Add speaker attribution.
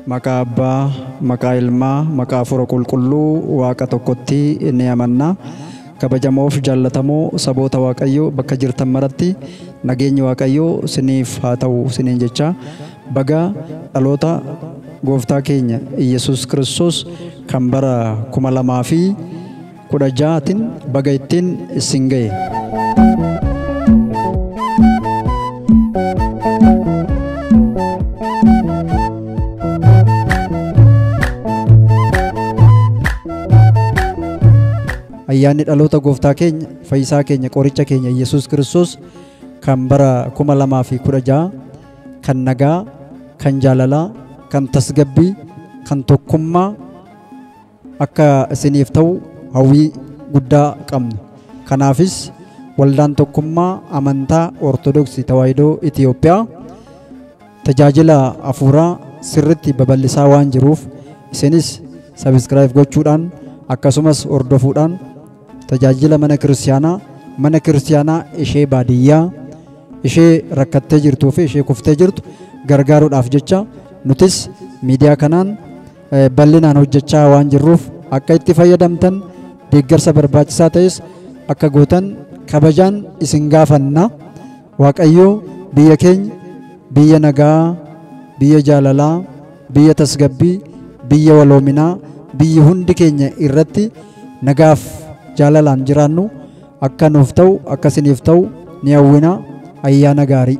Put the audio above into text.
Speaker 1: Maqaa Abbaa, maqaa Ilmaa, maqaa Hafuura Qulqulluu Waaqa tokkotti ni amanna. Kabajamoof jaallatamoo saboota Waaqayyoo bakka jirtan maratti nageenyi Waaqayyoo siniif haa ta'u siniin jecha Baga dhaloota Gooftaa keenya Iyyasuus Kiristoos kan bara 2016 tin baga ittin issin gahe. Ayyaanni dhaloota Gooftaa keenya Fayyisaa keenya Qoricha keenya Iyyasuus Kiristoos kan bara 2016 kan nagaa, kan jaalalaa, kan tasgabbii, kan tokkummaa akka isiniif ta'u hawwii guddaa qabna. Kanaafis waldaan tokkummaa amantaa Ortodoksii Tawaahidoo Itiyoophiyaa tajaajila hafuuraa sirritti babal'isaa waan jiruuf isinis sabiskiraayib gochuudhaan akkasumas hordofuudhaan Tajaajila mana kiristiyaanaa mana kiristiyaanaa ishee baadiyyaa ishee rakkattee jirtuu fi ishee kuftee jirtu gargaaruudhaaf jecha nutis miidiyaa kanaan eh, bal'inaan hojjechaa waan jirruuf akka itti fayyadamtan deeggarsa barbaachisaa ta'es akka gootan kabajaan isin gaafanna. Waaqayyoo biyya keenya biyya nagaa, biyya jaalalaa, biyya tasgabbii, biyya waloominaa, biyya hundi keenya irratti nagaaf jaalalaan jiraannu akka nuuf ta'u akka isiniif ta'u ni hawwina ayyaana gaarii.